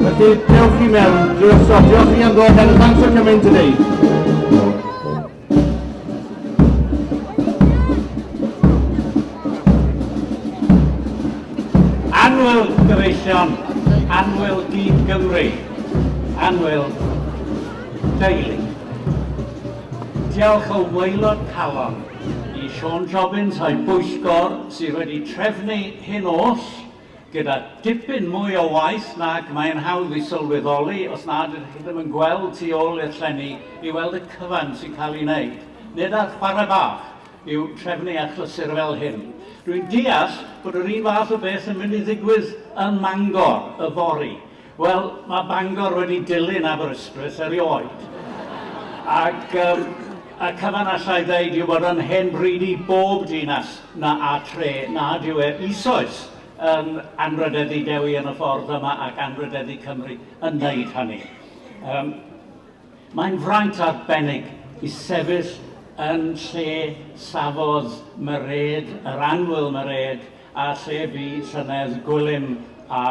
Felly, dewch i mewn, drwy osod, diolch i am ddod heno, thanks for coming today. Cynullion Anwyl Dyn Gymru, Anwyl Deulu. Diolch o waelod calon i Sean Jobbins a'i bwyllgor sydd wedi trefnu hyn oll Gyda dipyn mwy o waith nag mae'n hawdd ei sylweddoli os nad ydych chi ddim yn gweld tu ôl i'r llenni i weld y cyfan sy'n cael ei wneud. Nid ar chwarae bach yw trefnu achlysur fel hyn. Dwi'n deall bod yr un fath o beth yn mynd i ddigwydd ym Mangor yfory. Wel, mae Bangor wedi dilyn Aberystwyth erioed, ac yym y cyfan allai ddeud yw bod yn hen bryd i bob dinas na a tre nad yw e eisoes yn anrhydeddu Dewi yn y ffordd yma ac anrhydeddu Cymru yn wneud hynny. Um, mae'n fraint arbennig i sefyll yn lle safodd Mairead, yr anwyl Mairead, A lle bu llynedd Gwilym a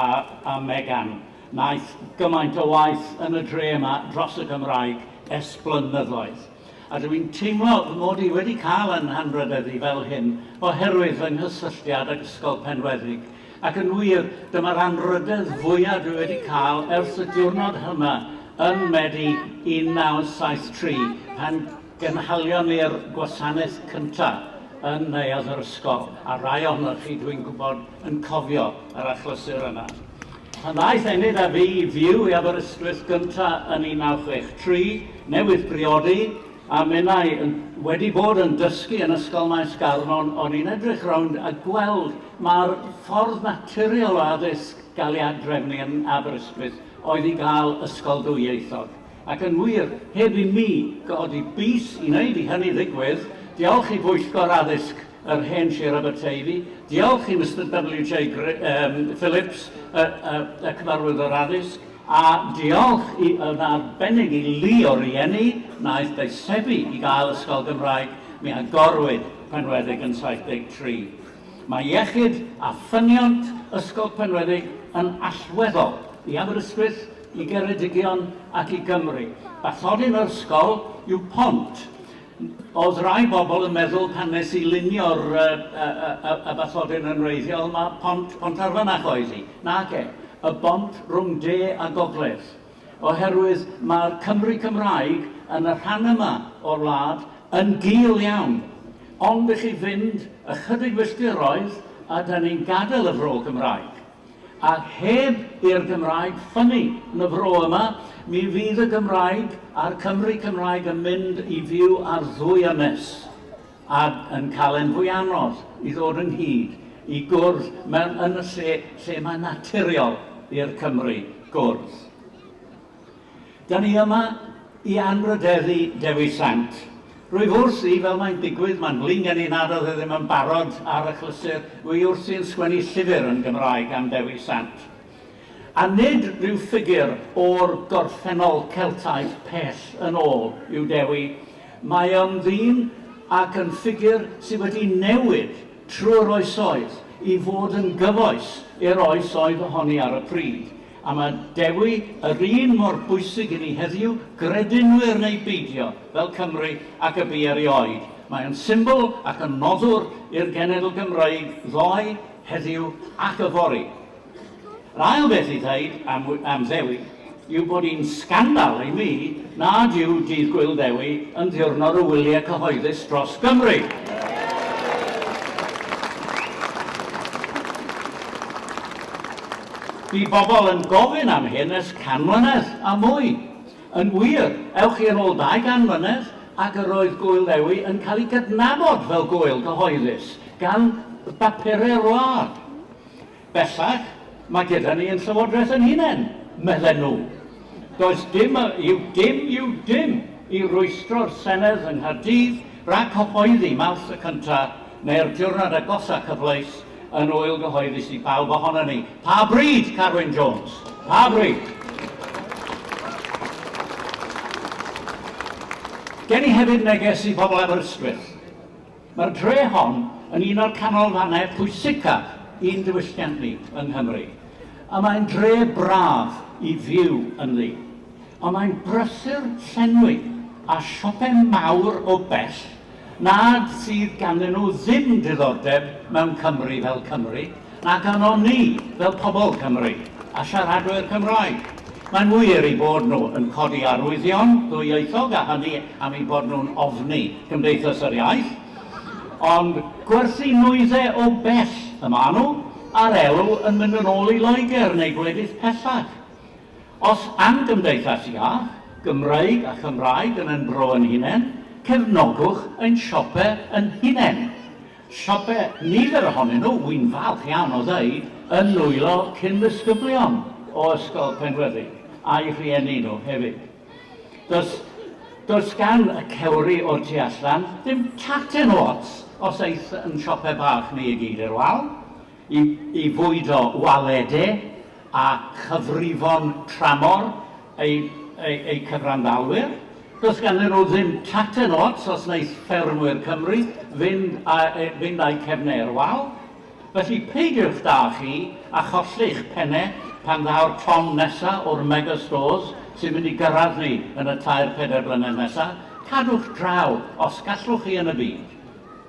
a Megan? Wnaeth gymaint o waith yn y dre yma dros y Gymraeg ers blynyddoedd. A dw i'n teimlo fy mod i wedi cael yn hanrhydeddu fel hyn oherwydd fy nghysylltiad ag Ysgol Penweddig, ac yn wir, dyma'r anrhydedd fwya dwi wedi cael ers y diwrnod hynna yn Medi 1973 pan Gynhalion ni'r gwasanaeth cyntaf yn Neuadd yr Ysgol, a rai ohonoch chi, dwi'n gwybod, yn cofio yr achlysur yna. Pan ddaeth Enid a fi i fyw i Aberystwyth gyntaf yn 1963, newydd briodi, a minnau wedi bod yn dysgu yn Ysgol Maes Garnon, o'n i'n edrych rownd a gweld mai'r ffordd naturiol o addysg gael ei ad-drefnu yn Aberystwyth oedd i gael ysgol ddwyieithog. Ac yn wir, heb i mi godi bys i wneud i hynny ddigwydd, diolch i Bwyllgor Addysg yr Hen Sir Aberteifi, diolch i Mister WJ Phillips, y Cyfarwyddwr Addysg, a diolch yn arbennig i lu o rieni wnaeth deisebu i gael ysgol Gymraeg, mi agorwyd Penweddig yn 73. Mae iechyd a ffyniant Ysgol Penweddig yn allweddol i Aberystwyth i Geredigion ac i Gymru. Bathodyn yr ysgol yw pont. Oedd rai bobl yn meddwl pan nes i lunio'r y, y, y, y bathodyn yn wreiddiol, mae pont, pont ar fanach oedd hi. Nage, y bont rhwng de a gogledd. Oherwydd mae'r Cymry Cymraeg yn y rhan yma o'r wlad yn gul iawn. Ond i chi fynd ychydig filltiroedd a da ni'n gadael y fro Cymraeg. Ac heb i'r Gymraeg ffynnu yn y fro yma, mi fydd y Gymraeg a'r Cymry Cymraeg yn mynd i fyw ar ddwy ynys, a yn cael e'n fwy anodd i ddod ynghyd, i gwrdd mewn ynys lle lle mae'n naturiol i'r Cymry gwrdd. Da ni yma i anrhydeddu Dewi Sant. Rwyf wrthi, fel mae'n digwydd, mae'n flin gen i nad oedd e ddim yn barod ar achlysur, wy wrthi yn sgwennu llyfr yn Gymraeg am Dewi Sant. A nid rhyw ffigur o'r gorffennol Celtaidd pell yn ôl yw Dewi. Mae o'n ddyn ac yn ffigur sydd wedi newid trwy'r oesoedd i fod yn gyfoes i'r oes oedd ohoni ar y pryd. A mae Dewi yr un mor bwysig i ni heddiw, gredinwyr neu beidio, fel Cymry ac y bu erioed. Mae o'n symbol ac yn noddwr i'r genedl Gymreig ddoe, heddiw ac yfory. Yr ail beth i ddeud am am Ddewi yw bod hi'n sgandal i mi nad yw Dydd Gwyl Ddewi yn ddiwrnod o wyliau cyhoeddus dros Gymru. Bu bobl yn gofyn am hyn ers can mlynedd a mwy. Yn wir, ewch chi yn ôl dau gan mlynedd ac yr oedd Gŵyl Ddewi yn cael ei gydnabod fel gŵyl gyhoeddus gan bapurau wlad. Bellach, mae gyda ni yn Llywodraeth ein hunain, medden nhw. Does dim yw dim yw dim i rwystro'r Senedd yng Nghaerdydd rhag cyhoeddi Mawrth y Cyntaf neu'r diwrnod agosa cyfleus yn ŵyl gyhoeddus i bawb ohonon ni. Pa bryd, Carwyn Jones? Pa bryd? Gen i hefyd neges i bobl Aberystwyth. Mae'r dre hon yn un o'r canolfannau pwysicaf i'n diwylliant ni yng Nghymru, a mae'n dre braf i fyw ynddi. Ond mae'n brysur llenwi â siopau mawr o bell nad sydd ganddyn nhw ddim diddordeb mewn Cymru fel Cymru, na ganon ni fel pobl Cymru a siaradwyr Cymraeg. Mae'n wir eu bod nhw yn codi arwyddion ddwyieithog a hynny am eu bod nhw'n ofni Cymdeithas yr Iaith, ond gwerthu nwydde o bell y maen nhw, a'r elw yn mynd yn ôl i Loegr neu gwledydd pellach. Os am gymdeithas iach, Gymreig a Chymraeg yn ein bro yn hunain, cefnogwch ein siope yn hunain. Siope nifer ohonyn nhw, wy'n falch iawn o ddeud, yn nwylo cyn-ddisgyblion o Ysgol Penweddig, a'u rhieni nhw hefyd. Does, does gan y cewri o'r tu allan ddim tacen o ots os aeth yn siope bach ni i gyd i'r wal. i fwydo waledau a chyfrifon tramor eu cyfranddalwyr. Does ganddyn nhw ddim tacten ots os wneith ffermwyr Cymru fynd â'u cefnau i'r wal. Felly, peidiwch da chi â cholli'ch pennau pan ddaw'r llong nesaf o'r mega stores sy'n mynd i gyrraedd ni yn y tair, pedair blynedd nesaf. Cadwch draw os gallwch chi yn y byd.